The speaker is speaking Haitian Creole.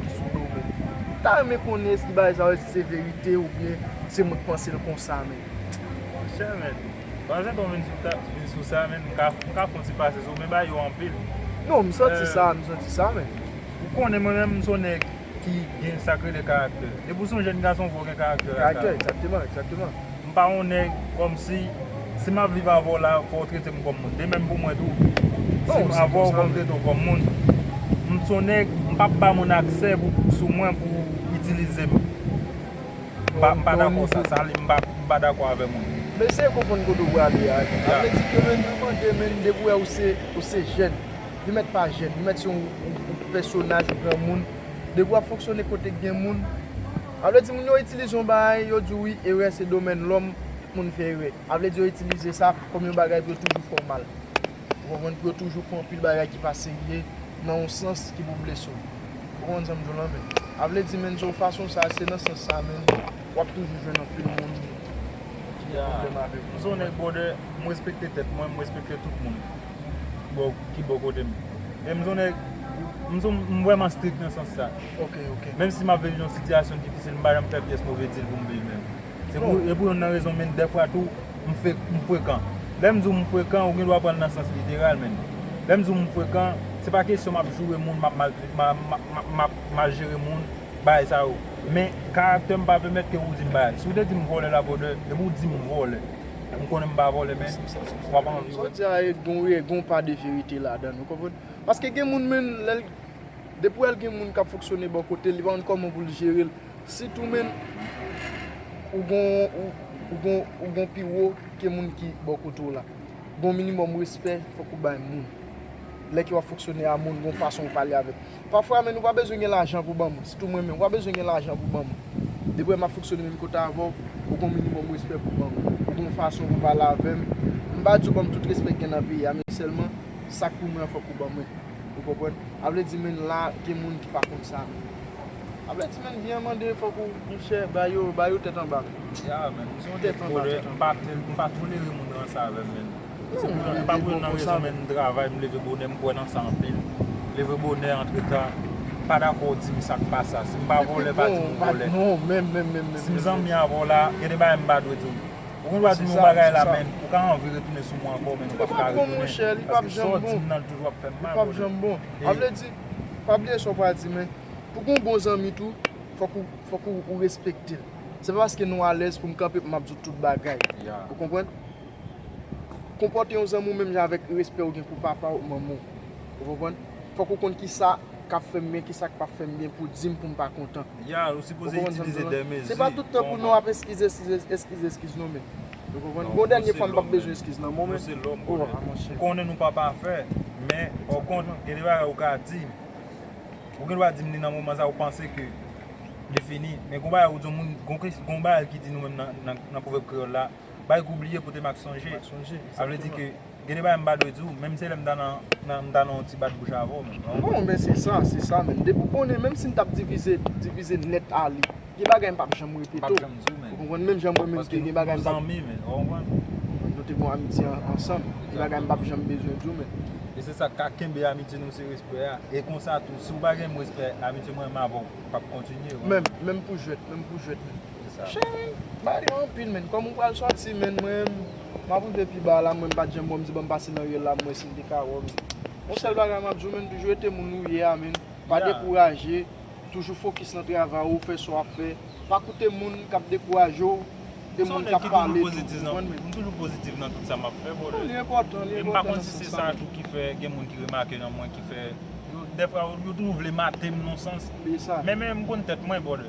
ki sou do men. M ta renmen konnen eski bagay sa yo eske se verite ou byen se mwen k panse l konsa men. Monchè men, pandan se ton vin sou sa men m ka fon ti pase sou ou men bagay yo anpil. Non m santi sa, m santi sa men. Ou konnen mwen menm m son nèg ki gen sa k rele karaktè. Depi w son jèn gason fò w gen karaktè. Karaktè, egzakteman, egzakteman. M pa yon nèg kòmsi si map viv avè w la fò w trete m kòm moun de menm pou mwen tou si m avè w fò m trete w kòm moun m son nèg m pap ba moun aksè sou mwen pou itilize m m pa dakò sa sa li m pa dakò avè moun. M eseye konprann kote w prale a sa vle di ke menn pou mande menn depi w wè ou se jèn li mèt pa jèn li mèt se yon pèsonaj yon granmoun depi w ap fonksyone kote k gen moun. A vle di moun yo itilize yon bagay, yo di w wi erè se domèn lòm, tout moun fè erè. A vle di yo itilize sa kòm yon bagay pou yo toujou fè w mal. Ou konprann? Pou yo toujou pran anpil bagay ki pa serye nan yon sans ki pou blese w. Ou konprann sa m di w lan men? A vle di menn se yon fason sa, se nan sans sa menn w ap toujou jwenn anpil moun ki gen pwoblèm avèk ou. M se yon nèg bwòdè, m respekte tèt mwen, m respekte tout moun ki bò kote m. Men m se yon nèg, m se yon, m vrèman strik nan sans sa. Ok ok menm si map viv yon sitiyasyon difisil m pa janm fè pyès move dil poum viv menm se pou e pou yonn nan rezon menn dèfwa tou m fek m frekan lèm diw m frekan ou gen dwa pranl nan sans literal menn lèm diw m frekan se pa kesyon map joure moun map mal map mal jere moun bagay sa yo men karaktèm pa pèmèt ke ou dim bagay si ou te dim vòlè la vòlè e pou dim vòlè m konnen m pa vòlè men wap anvi wè. Sa ou di a e gon pa de verite ladann ou konprann paske gen moun menn lèl Depi wè l gen moun k ap fonksyone bò kote l, li pa konn kòman pou l jere l. Sit ou menm, ou gen yon pi wo ke moun ki bò kote w la. Gen yon minimòm respè fòk ou bay moun. Lè ke w ap fonksyone a moun, gen yon fason ou pale avèk. Pafwa menm ou pa bezwen gen lajan pou ban moun. Sit ou mwen menm, ou pa bezwen gen lajan pou ban moun. Depi wè m ap fonksyone menm kote avè w, ou gen yon minimòm respè pou ban mwen. Ou gen yon fason pou pale avè m. M pa di w ban m tout respè k gen nan peyi a men sèlman sa k pou mwen an fòk ou ban mwen. Ou konprann? A vle di menn la gen moun ki pa konn sa. A vle di menn vyen mande fòk ou moun chè ba yo, ba yo tèt anba. Ya menn, m se yon nèg volè, m pa tè, m pa tolere moun ranse avè m menn. Se pou yo, m pa pou yo nan rezon menn m travay, m leve bonè, m kwè nan sa anpil. Leve bonè, antre ta, m pa dakò ou di m sa k pa sa. Si m pa volè pa di m ou volè. Si m zanmi avè w la, gen de bagay m pa dwe di w. Ou gen dwa di m yon bagay la men ou ka anvi retounen sou mwen ankò men nou pap ka retounen paske sa w di m nan toujou ap fè m mal brother. Pa bliye sa w pral di men pou gen yon bon zanmi tou fòk ou respekte l. Se pa paske nou alèz pou m kanpe pou m ap di w tout bagay. Ou konprann? Konpòte yon zanmi w menm jan avèk respè ou gen pou papa w, manman w. Ou konprann? Fòk ou konn kisa. kap fèm byen kisak pap fèm byen pou dim poum pa kontan Yeah ou sipoze itilize de mezi Se pa tout tan pou nou ap eskiz eskiz eskiz eskiz non menn Ou konprann Bon dènye fwa mpap bezwen eskiz nan Bon menn Oh a monchè Ou konnen nou pa pafè men o kont gen de bagay ou ka dim Ou gen dwa dim li nan moman sa ou panse ke li fini men gon bagay ou di yon moun gon kès gon bagay ki di nou menm nan nan pwovèb kreyòl la Bagay ke w bliye pote mak sonje Sa vle di ke Gen de bagay m pa dwe di w, menm se lè m ta nan m ta nan yon ti bat bouch avè w menm. Non men se sa, se sa menm. Depi w konnen menm si m t ap divize, divize nèt ale, gen bagay m p ap janm repete w. M p ap janm di w menm. Ou konprann? Menm jan mwen menm tou gen bagay m p ap. Paske nou zanmi menm, ou konprann? Nou te gon amitye ansanm. Gen bagay m p ap janm bezwen di w menm. E se sa k ka kenbe amitye nou se respè a. E konsa tou, si w pa gen menm respè, amitye mwen menm avè w p ap kontinye. Menm, menm pou jwèt, menm pou jwèt menm. Cheri, body an anpil menn, kòman ou pral sòti menn, mwen map rive pi ba la, mwen pat janm wè w, m di banm pase nan rye la m wè si m te ka wè w menn. Yon sèl bagay map di w menn, toujou rete moun ou ye a menn, pa dekouraje, toujou fokis nan travay ou, fè sa w ap fè, pa koute moun kap dekouraje w e moun kap pale tou, ou konprann menn. M toujou pozitif nan tout sa map fè brother. Li enpòtan, li enpòtan nan sans sa menn. E m pa konn si se sa tou ki fè gen moun ki remake nan mwen ki fè, dèfwa yo toujou vle mate m nan sans, men m konn tèt mwen brother.